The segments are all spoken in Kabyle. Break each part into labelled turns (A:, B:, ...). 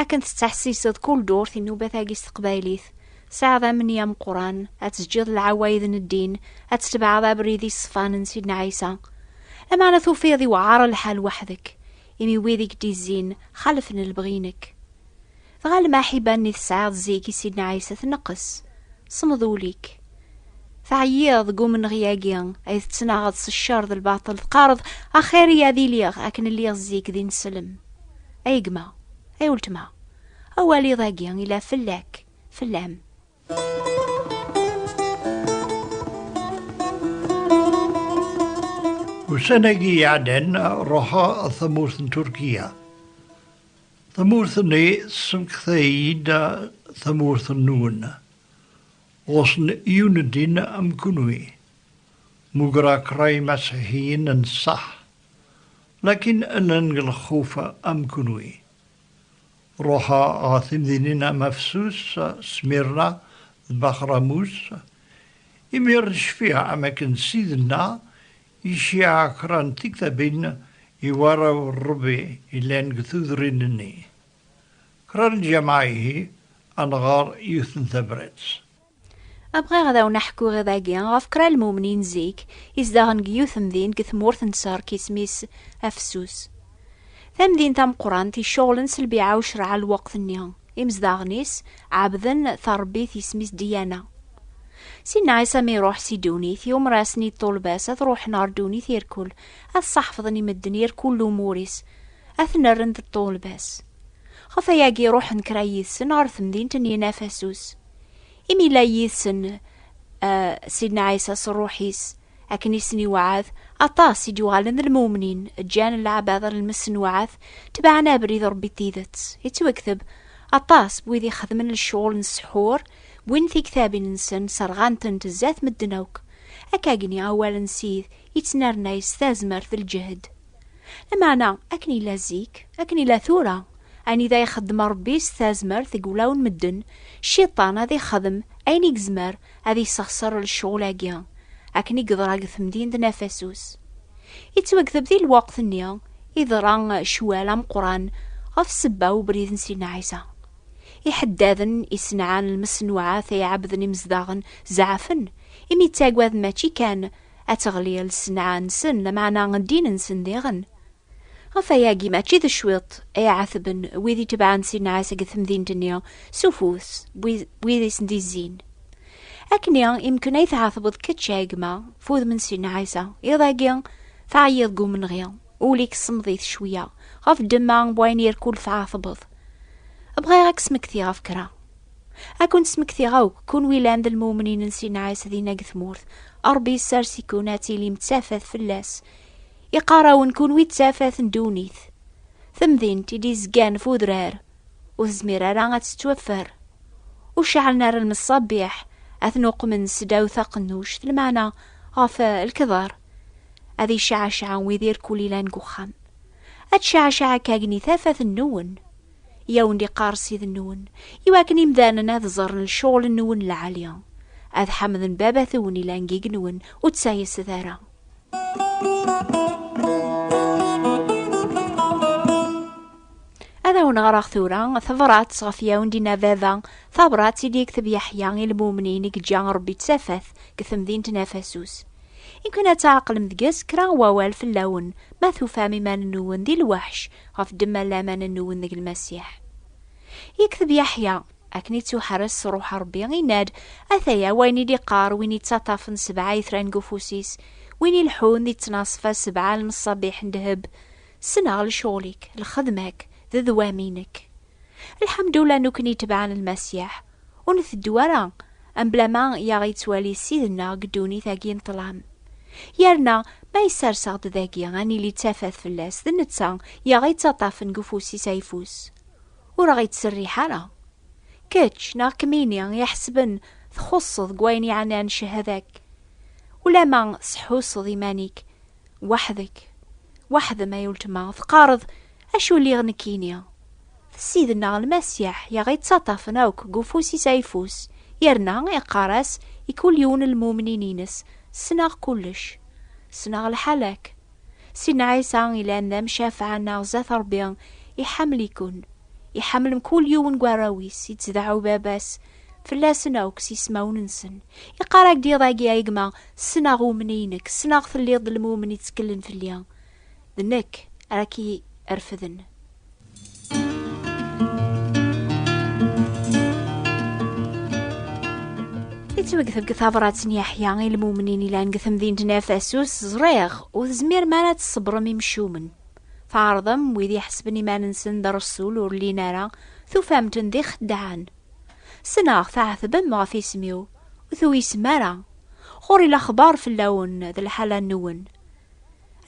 A: Akken tettḥessiseḍ kul durt inubat-agi s teqbaylit, tesɛiḍ amni ameqqran, ad teǧǧiḍ lɛawayd n ddin, ad tetbeɛeḍ abrid iṣefan n Sidna Ɛisa. Lameɛna tufiḍ iwɛer lḥal weḥd-k, imi wid i k-d-izzin xalfen lebɣi-inek. Dɣa lmaḥiba-nni tesɛiḍ zik i Sidna Ɛisa tneqqes, semmeḍ ul-ik. Teɛyiḍ deg umenɣi-agi ay tettnaɣeḍ s ccer d lbaṭel, teqqareḍ, Axir-iyi ad iliɣ akken lliɣ zik d ineslem. Ay gma, ay weltma, awal iḍ-agi yella fell-ak, fell-am.
B: Ussan-agi iɛeddan, ruḥeɣ ɣer tamurt n Turkiya. Tamurt-nni tessemekta-iyi-d tamurt-nwen. Ɣur-sen yiwen n ddin am kunwi, mugreɣ kraim aṣiḥiyin n ṣṣeḥ, lakin llan deg lxuf am kunwi. Ruḥeɣ ɣer timdinin am Afsus, Smirna d Baxramus, imir cfiɣ am akken Sidna iciɛa kra n tiktabin i warraw n Rebbi yellan deg tudrin-nni. Kra lǧameɛ ihi ad nɣer yiwet n tabrat. A bɣiɣ
A: ad awen-aḥkuɣ iḍ agi ɣef kra lmumnin zik izdaɣen deg yiwet temdint deg tmurt n Serk isem-is Afessus. Tamdint tameqqrant iceɣlen s lbiɛa ucreɛ lweqt nni. Imezdaɣen-is ɛebden tarebbit isem-is Diana. Sinna Ɛisa mi iruḥ si ddunit iumerasen-id ṭulba-s ad ruḥen ɣer ddunit irkul ad ṣaḥfḍen i medden irkul lumur-is. ad ten-rren d ṭṭulbas. Ɣef ayagi ruḥen kra yid-sen ɣer temdint n Yinafasus. Imi yella yid-sen uh, Sidna Ɛisa s ṛṛuḥ-is, akken i sen-iweɛɛed, aṭas i d-yuɣalen d lmumnin, ǧǧan leɛbad ar lmesnuɛat, tebɛen abrid n Ṛebbi tidet. Yettwekteb, aṭas n wid ixedmen lecɣal n ssḥur, wwin tiktabin-nsen, serɣan-tent zdat medden akk. Akkagni awal n Sid yettnernay s tazmert d lǧehd. Lameɛna, akken yella zik, akken yella tura, anida ixeddem Ṛebbi s tazmert deg wulawen n medden, Cciṭan ad ixdem ayen i yezmer ad yessexṣer lecɣul-agi, akken i yeḍra deg temdint n Afasus. Yettwagdeb di lweqt-nni, iḍra ccwal ameqqran ɣef ssebba n ubrid n Sidna Ɛisa. Iḥeddaden isenɛan lmeṣnuɛat ay ɛebbden imezdaɣen zeɛfen, imi ttaggaden mačči kan ad teɣli lsenɛa-nsen, lameɛna ddin-nsen diɣen. Ɣef wayagi, mačči d cwiṭ ay ɛetben wid itebɛen si nneɛs deg temdint-nni s ufus n wid i sen-d-izzin. Akkenni imken ay tɛetbeḍ kečč a gma, ɣef wudem n si nneɛs-a, iḍ-agi teɛyiḍ deg umenɣi, ul-ik ssemmeḍ-it cweyya ɣef ddemma n wayen irkul tɛetbeḍ. Bɣiɣ ad k-smektiɣ ɣef kra. Ad ken-smektiɣ akk, kunwi yellan d lmumnin n Si Nɛas dinna deg tmurt. Ṛebbi yessers-iken ad tilim d tafat fell-as. Iqqar-awen kunwi d tafat n ddunit. Tamdint i d-izgan f udrar, ur tezmir ara ad tettwaffer. Ur ceɛlen ara lmeṣṣabiḥ, ad ten-uqmen seddaw taqennuct, lmeɛna ɣef lkedar. Ad iceɛceɛ wid irkul yellan deg uxxam. Ad tceɛceɛ akk agni tafat-nwen. i awen-d-iqqar Ssid-nwen, i wakken imdanen ad ẓerren lecɣel-nwen lɛali, ad ḥamden Baba-twen ilan gig-nwen, ur ttayset ara. Ad awen-ɣreɣ tura tabrat ɣef yawen dina baba, tabrat i d-yekteb Yeḥya i lmumnin i yeǧǧa Rebbi d tafat deg temdint n Afasus. Iwkan ad tɛeqlem deg-s kra n wawal fell-awen, ma tufam iman-nwen di lweḥc ɣef ddemma n laman n uwenneg n Lmasiḥ. Yekteb Yaḥya, Akken i ttuḥerres s Ṛṛuḥ Ṛebbi, inna-d, Ataya wayen i d-iqqar win yettaṭṭafen sebɛa itran deg ufus-is, win ileḥḥun di ttnaṣfa sebɛa n lmeṣṣabiḥ n ddheb, Ssneɣ lecɣal-ik, lxedma-k, d ddwam-inek. Lḥemdullah nukni tebɛen lmasiḥ, ur nteddu ara ambla ma i aɣ-yettwali Ssid-nneɣ deg ddunit-agi n ṭṭlam. Yerna ma yessers-aɣ-d dagi ad nili d tafat fell-as, d netta i aɣ-yettaṭṭafen deg ufus-is ayeffus, ur aɣ-yettserriḥ ara. Kečč neɣ kemmini i iḥesben txuṣṣeḍ deg wayen yeɛnan cehada-k, ulamma tesḥusseḍ iman-ik, Weḥd-k, weḥd-m ay uletma, teqqareḍ, Acu lliɣ nekkini? D Ssid-nneɣ Lmasiḥ i aɣ-ittaṭṭafen akk deg ufus-is ayeffus, yerna iqqar-as i kul yiwen n lmumnin-ines, Ssneɣ kullec. Ssneɣ lḥal-ak. Sidna Ɛisa yellan d amcafeɛ-nneɣ zdat Ṛebbi, iḥemmel-iken. Iḥemmel mkul yiwen n warraw-is, ittdeɛɛu Baba-s, fell-asen akk s ismawen-nsen. Iqqar-ak-d iḍ-agi ay gma, ssneɣ umni-inek, ssneɣ telliḍ d lmumen itteklen fell-i. D nekk ara k-irefden. Yettwegteb deg tabrat n Yeḥya i lmumnin ilan deg temdint n Efesus, ẓriɣ, ur tezmirem ara ad tṣebrem imcumen. Tɛerḍem wid iḥesben iman-nsen d rresul ur llin ara, tufam-ten d ixeddaɛen. Sneɣ tɛetbem ɣef isem-iw, ur tuysem ara. Ɣur-i lexbar fell-awen d lḥala-nwen.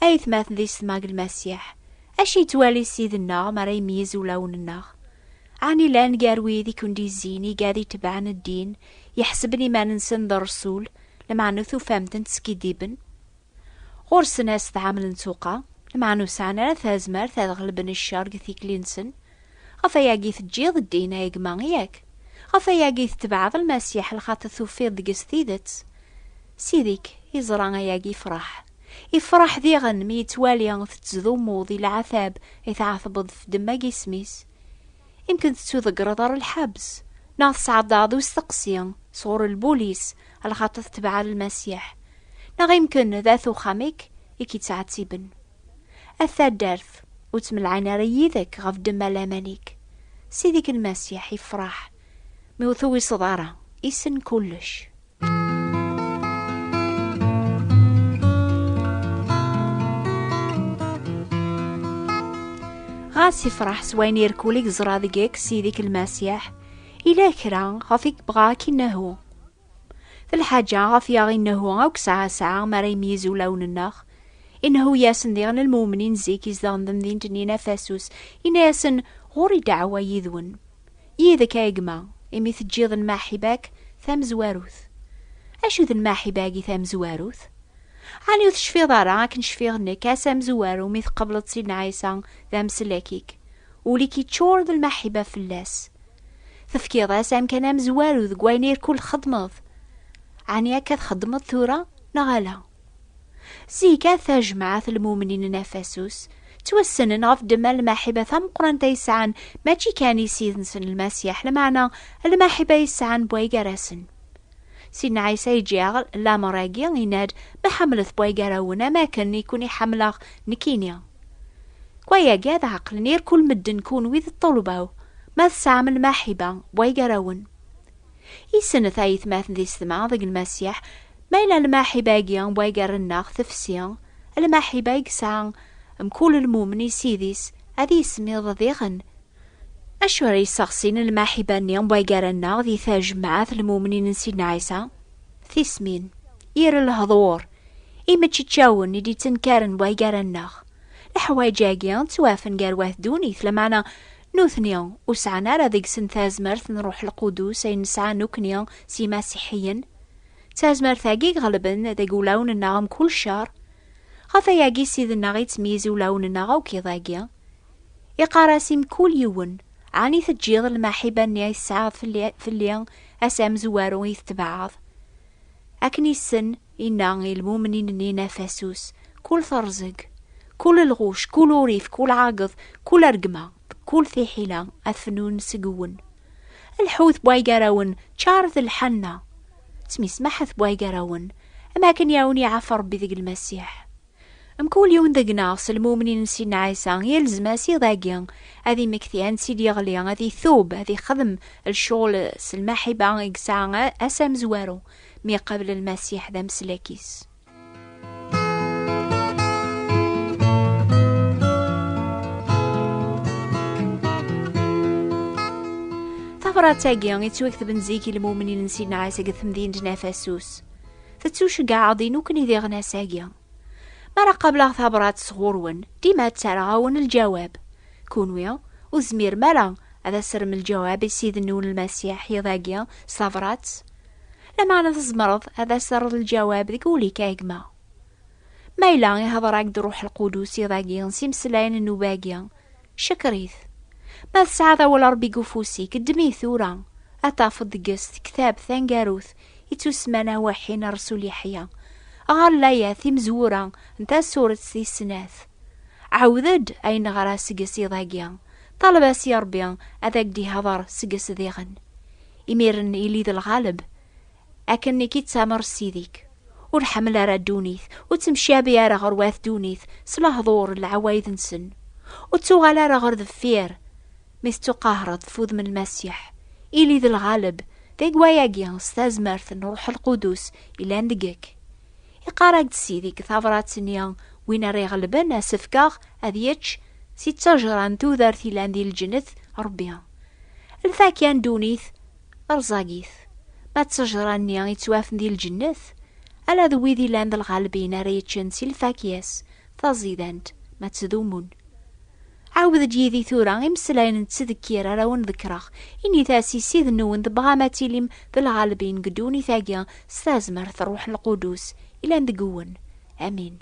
A: A yetmaten di setma deg Lmasiḥ, acu yettwali Ssid-nneɣ mi ara imeyyez ulawen-nneɣ? Ɛni llan gar wid i ken-d-yezzin igad itebɛen ddin, yeḥseben iman-nsen d rresul, lameɛna tufamt-ten teskiddiben? Ɣur-sen as tɛamel n tuqa, lmeɛna ur sɛan ara tazmert ad ɣelben ccer deg tikli-nsen. Ɣef wayagi teǧǧiḍ ddin, ay gma, yak? Ɣef wayagi tetbeɛeḍ Lmasiḥ lxaṭ tufiḍ deg-s tidet? Ssid-ik yeẓra ayagi ifraḥ. Ifraḥ diɣen mi yettwali tettdumuḍ i lɛatab i tɛatbeḍ f demma n yisem-is. Imken tettuḍeggreḍ ɣer lḥebs, neɣ tesɛaḍ daɣ d usteqsi sɣur lbulis lxaṭer tetbeɛeḍ Lmasiḥ, neɣ imken d at uxxam-ik i k-ittɛettiben. A taddart, ur ttemlaɛin ara yid-k ɣef ddemma laman-ik. Ssid-ik Lmasiḥ ifraḥ mi ur tuwiseḍ ara, issen kullec. ɣas ifraḥ s wayen irkul i geẓra deg eks ideg lmasiḥ ila kra ɣef i yebɣa ad k-innehu d lḥaǧa ɣef yaɣ innehu akk sɛa sɛa mi ara imeyyez ulawen-nneɣ innehu-yasen diɣen lmumnin zik izdeɣen temdint-nni n afasus inna-yasen ɣur-i dɛwa yid-wen Yid-k ay gma, imi teǧǧiḍ lmaḥiba-k tamezwarut. Acu d lmaḥiba-agi tamezwarut? Ɛni ur tecfiḍ ara akken cfiɣ nekk ass amezwaru mi tqebleḍ Sidna Ɛisa d ameslak-ik, ul-ik yeččur d lmaḥiba fell-as. Tefkiḍ-as amkan amezwaru deg wayen irkul txeddmeḍ. Ɛni akka txeddmeḍ tura neɣ ala? Zika tajmaɛt lmumnin n Afasus ttwassnen ɣef ddemma lmaḥiba tameqqrant ay sɛan mačči kan i Ssid-nsen Lmasiḥ, lmeɛna lmaḥiba ay sɛan bway gar-asen. Sidna Ɛisa iǧeɛɛel lamer-agi, yenna-d, Ma ḥemmlet bway gar-awen am akken i ken-iḥemmleɣ nekkini. Deg wayagi ad ɛeqlen irkul medden kunwi d ṭṭulba-w, ma tesɛam lmaḥiba bway gar-awen. Isennet ayetmaten di setma deg Lmasiḥ, ma yella lmaḥiba-agi n way yerren-aɣ tefsi, lmaḥiba i yesɛa mkul lmumen i Ssid-is, ad yismiḍ diɣen. Acu ara yesseɣsin lmaḥiba-nni n way yerren-aɣ di tajmaɛt n lmumnin n Sidna Ɛisa? Tismin, yir lehḍur, imeččeččawen i d-yettenkaren way yerren-aɣ. Leḥwayeǧ-agi ttwafen gar wat ddunit, lameɛna Nutni ur sɛan ara deg-sen tazmert n Ṛuḥ Lqudus ayen nesɛa nekkni s yimasiḥiyen. D tazmert-agi iɣelben deg ulawen-nneɣ mkul ccer. Ɣef wayagi Ssid-nneɣ ittmeyyiz ulawen-nneɣ akk iḍ-agi. Iqqar-as i mkul yiwen, Ɛni teǧǧiḍ lmaḥiba-nni i tesɛiḍ fell-i, ass amezwaru i tetbeɛɛeḍ? Akken yessen Inna i lmumnin-nni n Afasus, Kul terẓeg, kul lɣuc, kul urif, kul ɛageḍ, kul argma, d kul tiḥila ad fnun seg-wen. Lḥut bwaygarawen, ččar d lḥanna. Smismaḥet bwaygarawen, am akken i awen-iɛaf Ṛebbi deg Lmasiḥ. Mkul yiwen deg-neɣ s lmumnin n Sidna Ɛisa, yelzem-as iḍ-agi ad imekti ansi d-yeɣli, ad itub, ad ixdem lecɣel s lmaḥiba i yesɛa ass amezwaru mi iqabel Lmasiḥ d ameslak-is. Tabrat-agi, yettwaktben zik i lmumnin n Sidna Ɛisa deg temdint n Afasus. Tettuceggaɛeḍ-in ukken i diɣen ass-agi. Mi ara qableɣ tabrat sɣur-wen, dima ttarraɣ-awen lǧawab. Kunwi, ur tezmirem ara ad as-terrem lǧawab i Ssid-nwen Lmasiḥ iḍ-agi s tabrat? Lameɛna tzemreḍ ad as-terreḍ lǧawab deg wul-ik a gma. Ma yella ihdeṛ-ak-d Ṛṛuḥ Lqudus iḍ-agi s imeslayen n nnuba-agi, Cekker-it. Ma tesɛiḍ awal Ṛebbi deg ufus-ik, ddem-it tura. Ad tafeḍ deg-s tektab taneggarut i tt-usemman Awaḥi n Rresul Yeḥya. Ɣer layat timezwura n tasuret tis snat. Ɛawed-d ayen neɣra seg-s iḍ-agi. Ṭaleb-as i Ṛebbi ad ak-d-ihdeṛ seg-s diɣen. Imiren ili d lɣaleb. akken nekk i d tamer ssidik ur ḥemmel ara ddunit ur ttemcabi ara ɣer wat ddunit s lehḍur n lɛawayed-nsen ur ttuɣal ara ɣer deffir mi tettuqahreḍ tfudem n lmasiḥ ili d lɣaleb d agwayagi s tazmert n ruḥ lqudus ilan deg-k iqarag-d sidik tabrat-nni win ara iɣelben asefkaɣ ad yečč si ttejra n tudert ilan di lǧennet rebbi lfa kan ddunit Rẓagit, ma d ttejra-nni i ttwafen di lǧennet, ala d wid ilan d lɣalbin ara yeččen si lfakya-s taẓidant, ma ttdumun. Ɛawed-d yid-i tura imeslayen n ttdekkir ara wen-ḍekkreɣ, init-as i Ssid-nwen tebɣam ad tilim d lɣalbin deg ddunit-agi s tazmert n Rruḥ Lqudus ilan deg-wen. Amin.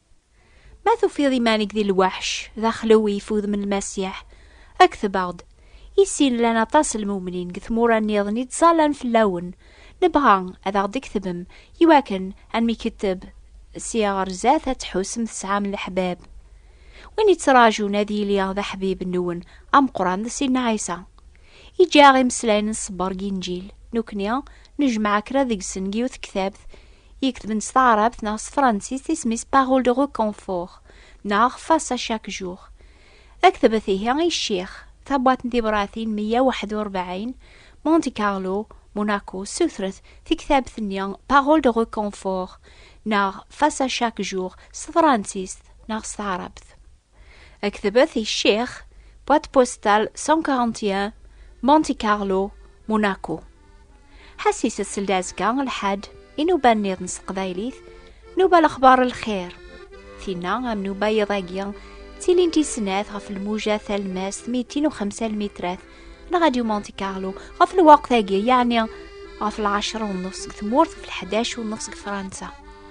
A: Ma tufiḍ iman-ik di lweḥc, d axlewi f udem n Lmasiḥ, kteb-aɣ-d. I sin llan aṭas n lmumnin deg tmura nniḍen i ttẓallan fell-awen. Nebɣa ad aɣ-d-ktbem i wakken ad nmketteb sya ɣer zdat ad tḥusem tesɛam leḥbab. Win yettraǧun ad yili d aḥbib-nwen ameqqran d Sidna Ɛisa. Iǧǧa-aɣ imeslayen n ṣṣber deg Inǧil. Nekkni nejmeɛ kra deg-sen deg yiwet n tektabt يكتبن s taɛrabt neɣ s tefransist isem-is parole de reconfort neɣ face à chaque jour. Aktbet ihi i ccix, tabwaṭ n tibṛatin 141, Monte Carlo, Monaco, sutret tiktabt-nni parole de reconfort neɣ face à chaque jour s tefransist neɣ s taɛrabt. Aktebet i Ccix, boîte postale 141, Monte Carlo, Monaco. Ḥasi sessel-d azekka lḥad, inuba nniḍen s teqbaylit, nuba lexbar lxir. Tinna am nuba yiḍ-agi, ttilint i snat ɣef lmuja talmast mitin u xemsa lmitrat, la Radio Monte Carlo, ɣef lwaqt-agi, yeɛni ɣef lɛecra u nnef seg tmurt, ɣef lḥdac u nnef seg Fransa.